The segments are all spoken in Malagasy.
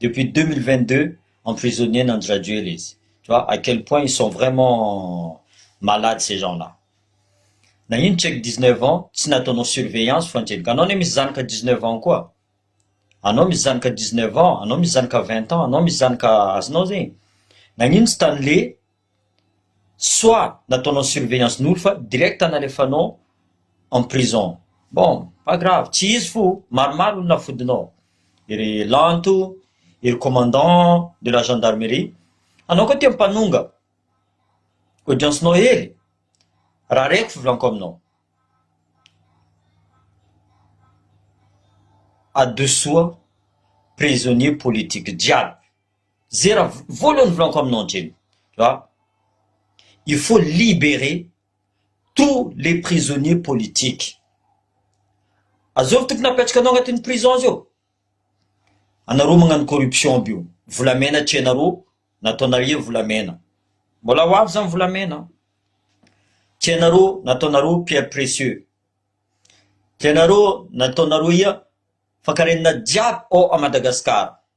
Depuis deux mille vingt deux emprisonné ny andry rajoel izy tu vois à quel point ils sont vraiment malades ces gens là nagnino check dix neuf ans tsy nataonao surveillance fa niteny ka anao anie misy zanaka dix neuf ans koa anao misy zanaka dix neuf ans anao misy zanaka vingt ans anao misy zanaka azonao zegny nagnino tsy tany le soit nataonao surveillance nolo fa direct nalefanao en prison bon pas grave tsy izy fo maromaro no nafodinao ery lanto ery commandant de la gendarmerie anao koa tia mpanonga audience nao hely raha reko fivolanko aminao adosoa prisonnier politique jiaby Ze raha voalohany volanko aminao ndreny a, il faut liberer tous les prisonniers politiques, azovy tokony apetraka anao agnatin'ny prison zao, anareo magnano corruption aby io, volamena tianareo nataonareo volamena, mbola ho avy zany volamena, tianareo nataonareo pierre precieux, tianareo nataonareo ia, fa karenina jiaby ao à Madagascar.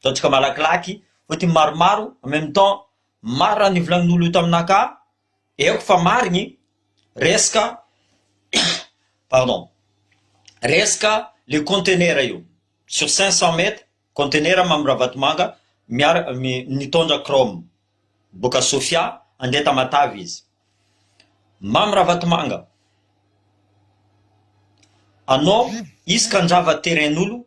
Ataontsika malakilaky, hoy ity maromaro, en même temps, marina ny volagnin'olo io taminah ka, eko fa marigny, resaka, pardon, resaka le contenera io, sur cinq cent mètres, contenera Mamy Ravatomanga, miara, mi, nitondra chrome, boaka Sofia, handeha Tamatave izy. Mamy Ravatomanga, anao, izy ka handrava terrain-n'olo,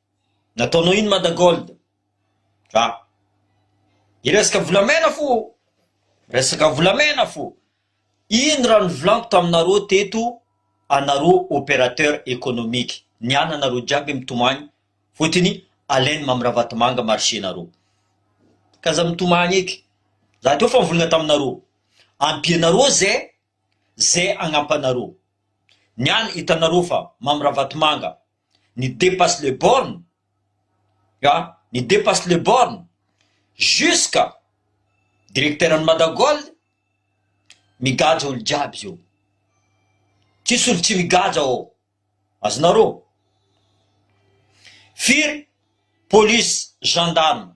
Nataonao ino Mada Gold? Dra. Hiresaka volamena fo ô! Miresaka volamena fo! Iny raha novolako taminareo teto anareo opérateur économique, ny ananareo jiaby mitomany fotony alain'i Mamy Ravatomanga marché-nareo. Ka za mitomany eky. Za teo fa nivolagna taminareo. Ampianareo ze ze agnampanareo. Ny any hitanareo fa Mamy Ravatomanga Ny depasse les bornes a! Ny depasse les bornes! Jusqu'à directeur an'i Madagold migadra olo jiaby zao. Tsisy olo tsy migadra ao. Azonareo? Firy police, gendarme.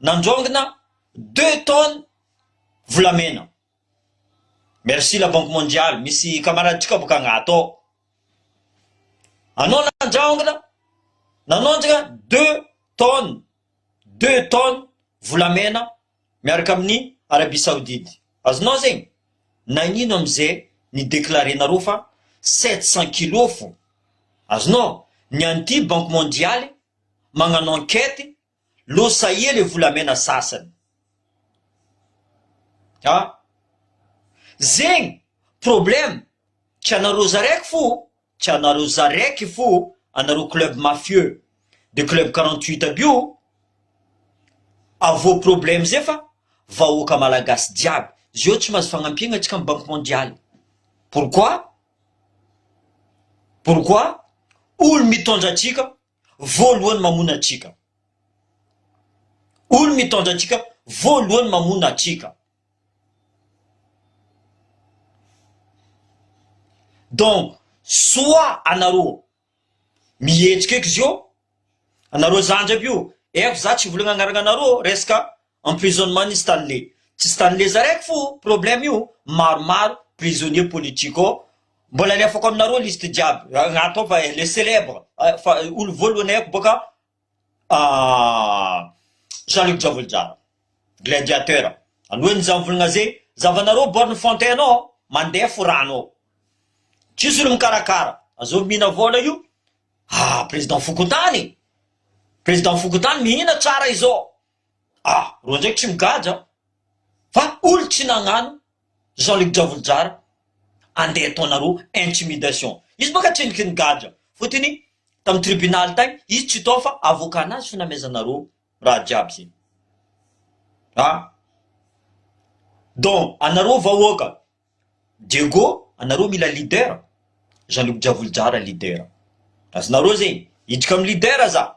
Nandrongona deux tonnes volamena. Merci la banque mondiale, misy camarade tsika boka Angato ao. Anao nandraongona, nanondrana deux tonnes, deux tonnes volamena miaraka amin'ny Arabie Saoudite. Azonao zegny? Nagnino amze ni declarer nareo fa sept cent kilos fô? Azonao? Ny an'ity banque mondiale magnano enquête Lo sahia le volamena sasany a! Zegny problème tsy anareo zaraiky fo tsy anareo zaraiky fo anareo club mafieux de club quarante huit aby io avo problème zay fa vahoaka malagasy jiaby zeo tsy mahazo fagnampiagna atsika am banky mondialy pourquoi pourquoi olo mitondra atsika voalohany mamono antsika. Olo mitondra antsika voalohany mamono antsika. Donc, soit anareo mihetsika eky zio, anareo zandry aby io, F za tsy volagna agnarana anareo, resaka Emprisonnement ny Stanley. Tsy Stanley Zarek fo problème io maromaro prisonnier politique ao mbola alefako aminareo liste jiaby agnato ao fa le celèbre fa olo voalohany haiko boka Jean Luc Javolojara gladiateur alohan'ny za mivolagna ze zavanareo borne fontaine ao mande fo rano ao tsisy olo mikarakara azao mihina vola io ah president fokontany president fokontany mihina tsara izao Ah! Roa ndraiky tsy migadra aho fa olo tsy nagnano Jean Luc Dravolojara andeha ataonareo intimidation izy baka tsy niky nigadra fotony tam tribunal tagny izy tsy tao fa avocat nazy fo namezanareo raha jiaby zay ah donc anareo vahoaka Diego anareo mila leader Jean Luc Dravolojara leader azonareo zegny hidrika am leader za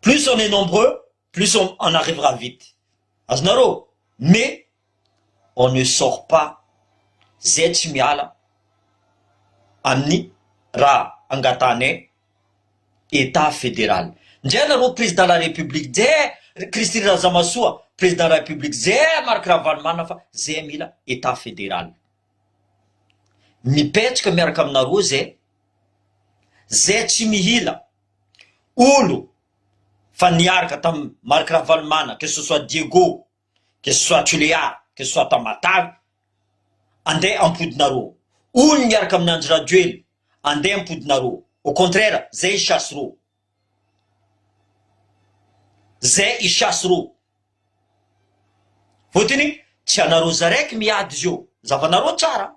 Plus on est nombreux plus on on arrivera vite azonareo mais on ne sort pas zay tsy miala amin'ny raha angatahanay etat federal ndrao nareo président la république zay Christine Razamasoa président la république zay Marc Ravalomanana fa zay mila etat federal mipetraka miaraka aminareo zay Zay tsy mihila olo fa niaraka tam Marc Ravalomanana que ce soit Diego que ce soit Tulear que ce soit Tamatave ande ampodinareo olo niaraka amin Andry Rajoelina ande ampodinareo au contraire zay i chasse reo zay i chasse reo fotony tsy anareo zaraiky miady zeo zavanareo tsara.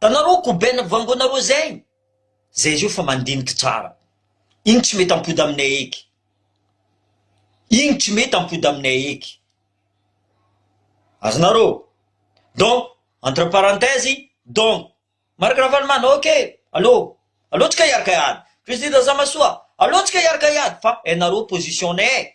Tanaroo koben vangonaroo zay zay izy io fa mandiniky tsara igny tsy mety ampody aminay eky igny tsy mety ampody aminay eky azonareo donc entre parenthèse donc Marc Ravalomanana ok allo allo tsika hiaraka hiady Christy Razamasoa allo tsika hiaraka hiady fa hainareo position nay e.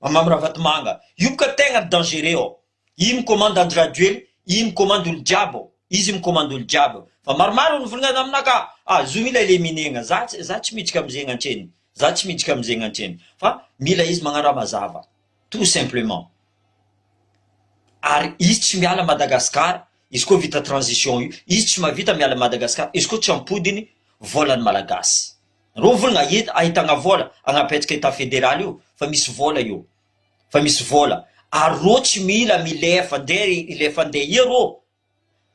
Mamy Ravatomanga io ka tegna dangereux ao, i mikomandy Andry Rajoely i mikomandy olo jiaby ao, izy mikomandy olo jiaby ao, fa maromaro olo mivolagna tamina ka, ah zo ilay le minegna, za tsy za tsy miditra amzegny antreny, za tsy miditra amzegny antreny, fa mila izy magnaraha mazava tout simplement, ary izy tsy miala Madagascar izy koa vita transition io, izy tsy mavita miala Madagascar izy koa tsy ampodigny volan'ny malagasy. Reo volana hita ahitagna vola agnapetraka etat federal io fa misy vola io fa misy vola ary reo tsy mila milefa nde hilefa nde ia reo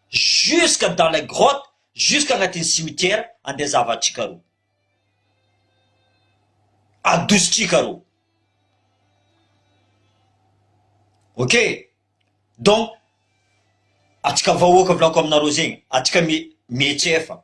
jusque dans les grottes jusque agnatin'ny cimetière ande zavatrika reo adositrika reo ok donc atsika vahoaka volako aminareo zegny atsika mi mietsefa.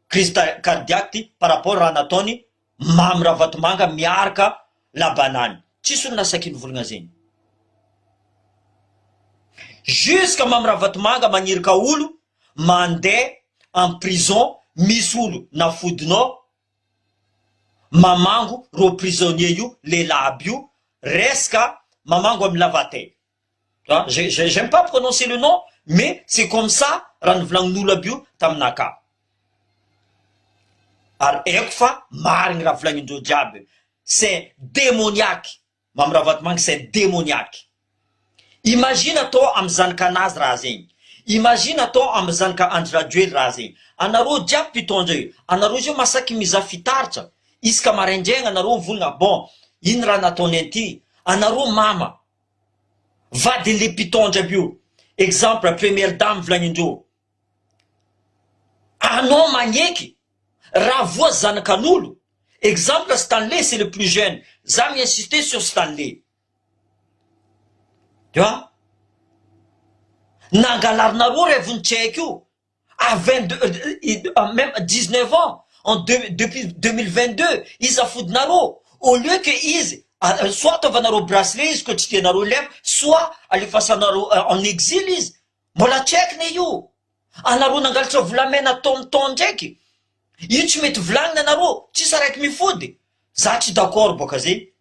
crise cardiaque ty par rapport raha nataony Mamy Ravatomanga miarka la banane tsisy olona saky nivolgna zegny jusque Mamy Ravatomanga magnirika olo mande en prison misy olo nafodinao mamango rô prisonnier io lel'aby io reska mamango amy lavateny. Ah, j'ai, j'ai, j'aime pas prononcer le nom, mais c'est comme ça raha nivolagnin'olo aby io taminaka. Ary haiko fa marigny raha volagnindreo jiaby io. C'est demoniaque. Mamy Ravatomanga c'est demoniaque. Imagine atao amin'ny zanakanazy raha zegny. Imagine atao amin'ny zanaka Andry Rajoely raha zegny. Anareo jiaby mpitondra io, anareo zao masaky mizaha fitaratra. Isaka maraindraigna anareo mivolagna bon, ino raha nataony an'ity? Anareo mama. vadin le pitondra aby io exemple première dame volagnindreo anao magneky raha voa zanakanolo exemple stanley c'est le plus jeune za mi insiste sur stanley tu vois nangalarinareo revony tsy haiko io à vingt deux même dix neuf ans en deux depuis deux mille vingt deux iza fodinareo au lieu que izy soit ataovanareo bracelet izy koa tsy tianareo ilay soit alefasanareo en exil izy mbola tsy haiko ne io anareo nangalatra volamena temps temps ndraiky io tsy mety volagnina anareo tsisy araiky mifody za tsy d'accord boka zegny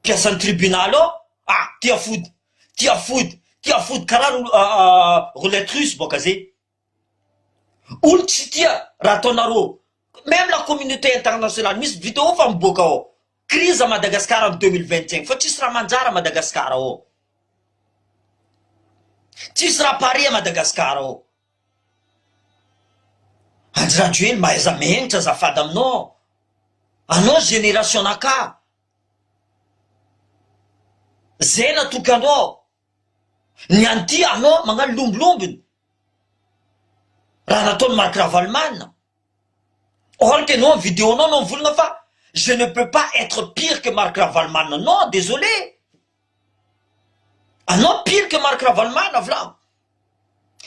Mpiasan'ny tribunal ao ah tia fody tia fody tia fody karaha roulette russe boka zay olo tsy tia raha ataonareo meme la communauté internationale misy video efa miboaka ao crise Madagascar am deux mille vingt cinq fa tsisy raha manjary Madagascar ao tsisy raha pare Madagascar ao Andry Rajoely mba aiza menitra azafady aminao aho, anao génération nakà, zay natoky anao aho, ny any ty anao magnano lombilombiny, raha nataony Marc Ravalomanana, or que anao ny video nao anao mivolagna fa je ne peux pas etre pire que Marc Ravalomanana, non, désolé. Anao pire que Marc Ravalomanana vilamo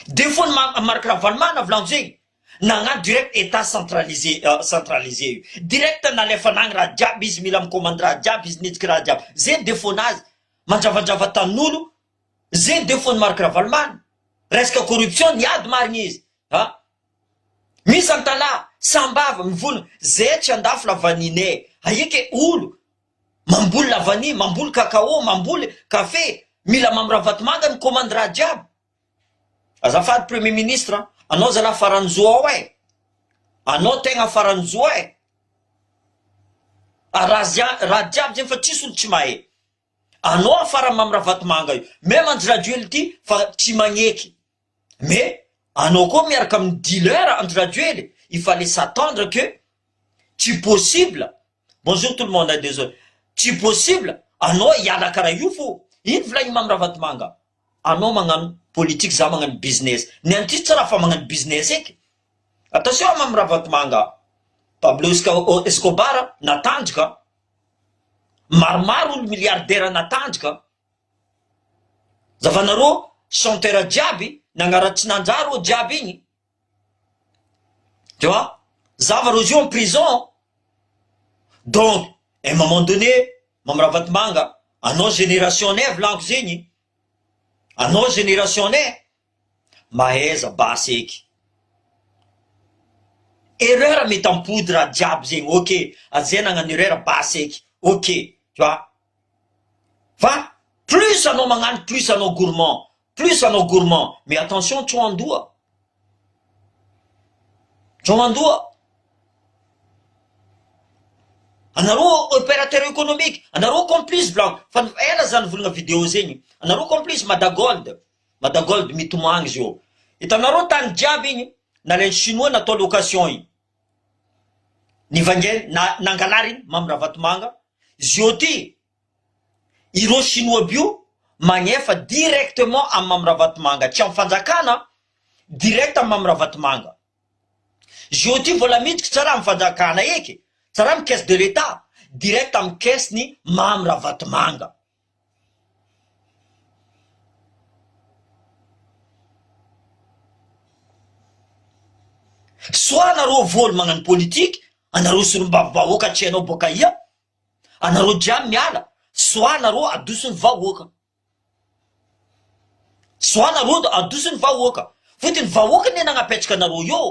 defaut ny ma Marc Ravalomanana vilamo zegny nagnano direct etat centralisé centralisé io direct nalefanagny raha jiaby izy mila mi-commander raha jiaby izy nitsiky raha jiaby zegny defaut nazy mandravandrava tanin'olo zegny defaut ny Marc Ravalomanana resaka corruption niady marigny izy ha misy antalaha sambava mivonona zay tsy andafy la vanille aia ke olo Mamboly lavania, mamboly cacao, mamboly kafe, mila mamy ravatomanga ny komandy raha jiaby. Azafady premier ministre an, anao zalah farany zo ao eh, anao tegna farany zo eh, arazian raha jiaby zegny fa tsisy olo tsy mahay, anao farany mamy ravatomanga io, même andry rajoely ty fa tsy magneky. Mais anao koa miaraka amin'ny dealer Andry Rajoely il fallait s'attendre que tsy possible Bonjour tout le monde hein désolé Tsy possible anao hiala karaha io fô iny volain'i Mamy Ravatomanga anao magnano politique za magnano business ny an'ity tsy raha fa magnano business eky Attention à Mamy Ravatomanga a Pablo Escobar natandrika a Maromaro olo milliardaire natandrika a. Zavanarô chanteur jiaby nagnara tsy nanjary rô jiaby igny tu vois zava rô zio en prison donc un moment donné Mamy Ravatomanga anao génération nay volaniko zegny anao génération nay mahaiza basy eky erreur mety ampody raha jiaby zegny ok aza zay nagnano erreur basy eky ok tu vois. Fa plus anao magnano plus anao gourmand, plus anao gourmand, mais attention tso andoha, tso andoha, anareo operateur economique, anareo complice volagno, fa ela za nivolagna video zegny, anareo complice mada gold, mada gold mitomagny izy eo, hitanareo tany jiaby igny nalain'ny chinois natao location igny. Nivaingany na nangalariny Mamy Ravatomanga Zio ty ireo chinois by io magnefa directement am Mamy Ravatomanga tsy am fanjakana direct am Mamy Ravatomanga Zio ty vola miditry tsara am fanjakana eky tsara am caisse de l'etat direct am caisse ny Mamy Ravatomanga. Soit anareo voly magnano politique anareo solombavy vahoaka tsy hainao boaka aia anareo jiaby miala soit anareo adoso ny vahoaka soit anareo adoso ny vahoaka fotony vahoaka anie nagnapetraka anareo eo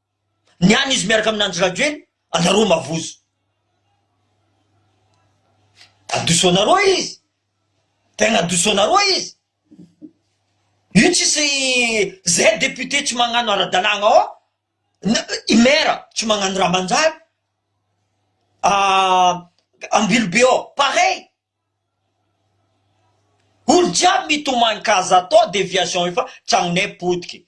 Ny any izy miaraka amin' Andry Rajoely anareo mavozo. Adosonareo izy. Tegna adosonareo izy. Io tsisy zay député tsy magnano ara-dalàgna ao na i maire tsy magnano raha manjary. Ambilobe ao pareil. Olo jiaby mitomany ka aza atao déviation efa tragnonay potiky.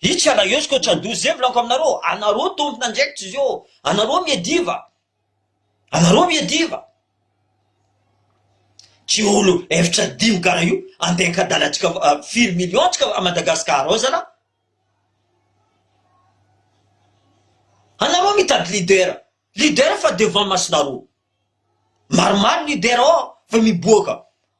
Hic ala eo sko tra douze vlanko aminareo anareo tompon andraikitra zio anareo miadiva anareo miadiva tsy olo eftra dimy kara io andeha ankadalatsika firy million tsika a madagascar ao zala anareo mitady leader leader fa devant masonareo maromaro leader ao fa miboaka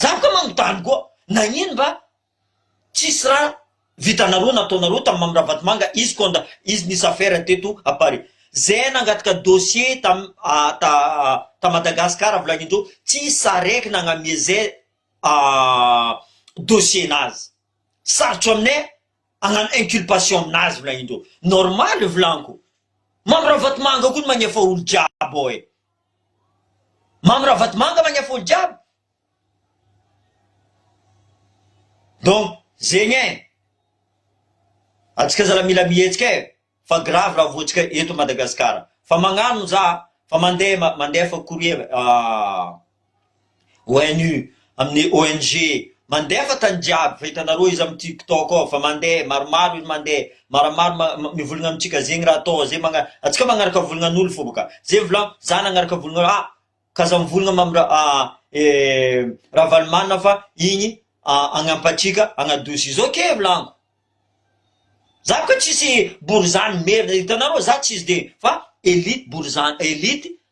Zah koa manontany koa, nagnino mba tsisy raha vitanareo nataonareo tam Mamy Ravatomanga izy quand izy nisy affaire teto à Paris? Zay nangataka dossier tam ta ta Madagascar avy lany indreo tsisy saraiky nagnamie zay dossier nazy. Sarotro aminay agnano inculpation aminazy volagnindreo. Normal volagniko. Mamy Ravatomanga koa no magnefa olo jiaby ao e. Mamy ra vatomanga magny afolo jiaby donc zegny eh atsika zala mila mihetsika eh fa grave ra voantsika eto Madagascar fa magnano za fa mande mandefa courrier ah. ONU, amin'ny ONG, mandefa tany jiaby fa hitanareo izy amin'ny tik tok ao fa mandeha maromaro izy mandeha maramaro ma mivolagna amintsika zegny raha atao ze magna antsika magnaraka volagnan'olo fô bôka ze volan za nagnaraka volagna ah ka za mivolagna ma am'ra ah e ravalomanana fa igny ah agnampa antsika agnadosi izy ok volagno za bôka tsisy bory zany merina hitanareo za tsisy de fa elite bory zany elite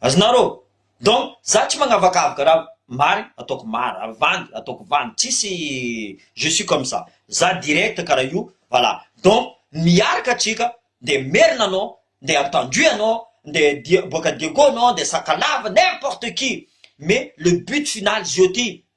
Azonareo? Donc za tsy magnavakavaka ra marigny ataoko mary ra vandy ataoko vandy tsisy je suis comme ça za direct kara io voilà donc miaraka atsika nde merina anao nde antandroy anao nde dia boaka diego anao nde sakalava n'importe qui mais le but final zio ty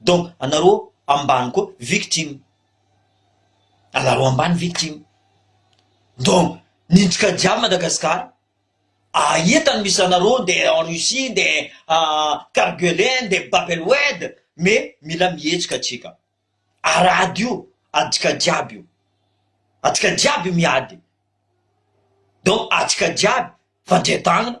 donc anareo ambany koa victime anareo ambany victime donc niditra jiaby Madagascar ahita ny misy anareo nde en Russie nde cargele nde babelwed mais mila mihetsika atsika ary ady io adika jiaby io atsika jiaby miady donc atsika jiaby fandrian-tagnana